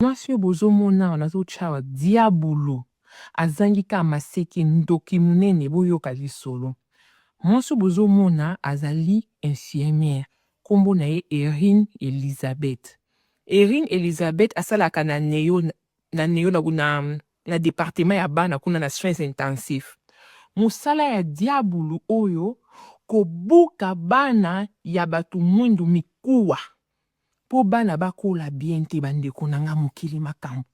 Mwasi oyo bozo mona awa nazo tia awa diabulu azangi kaka maseke ndoki munene boyoka lisolo mwasi oyo bozo mona azali infirmière kombo na ye Erine Elisabeth Erine Elisabeth asalaka na neo na neo na na na departement ya bana kuna na soins intensifs musala ya diabulu oyo kobuka bana ya batu mwindu mikuwa Po bana ba kola bien te ba ndeko na nga mokili makambu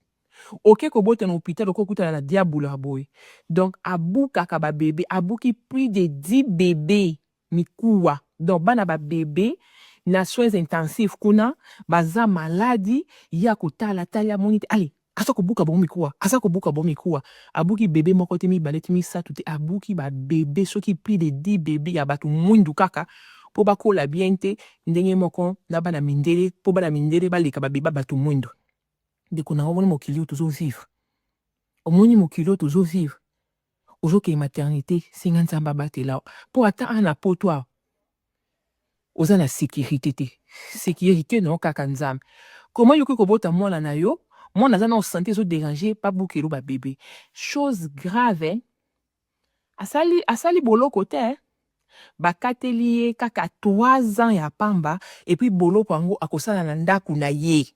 oke ko bota na hopital oko kutana na diabulu ya boye donc a bukaka ba bebe a buki plus de 10 bebe mikuwa donc bana ba bebe na soins intensifs kuna baza maladi ye ako tala tali amoni te allez Aza kobuka bango mikuwa, aza kobuka bango mikuwa. Abuki bebe moko te, mibale te, misato te, abuki ba bebe soki plus de 10 bebe ya batu muindu kaka po bakola bien te ndenge moko na bana mindele po bana mindele baleka ba bebe ya batu muindu. Ndeko nanga omoni mokili oyo tozo vivre? Omoni mokili oyo tozo vivre? ozokende maternite senga nzambe abatela yo po ata awa na poto awa oza na securite te securite na yo kaka nzambe koma yokoki kobota mwana na yo mwana aza na osante ezo derange babukelo babebe chose grave eh? asali, asali boloko te eh? bakateli ye kaka 3 ans ya pamba epuis boloko yango akosala na ndako na ye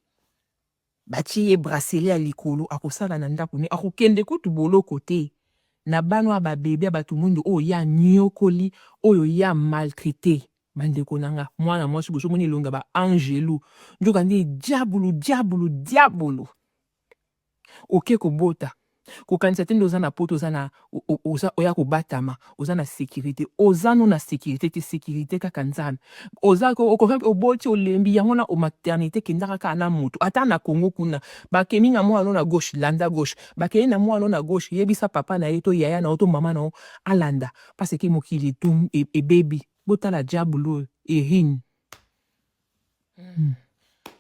Batie ye bracelet ya likolo akosala na ndaku naye akokende kutu boloko te na bana oyo ba bebe ya batu muindu oyo ye aniokoli oyo ye a maltraite bandeko na nga muana muasi boso mona elongi ya ba angelu nzoka nde diabulu diabulu diabulu oke kobota Kokanisa te nde oza na poto oza na oza oya kobatama oza na securite oza no na securite te securite kaka nzambe oza okoki oboti olembi yango wana o maternite kendaka kaka na moto ata na congo kuna bakemi na mwana no na gauche landa gauche bakei na mwana no na gauche yebisa papa na ye to yaya na yo to mama na yo alanda parce que mokili etum ebebi botala diabulu oyo erin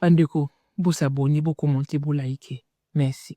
bandeko bosabone bokomonte bolaike merci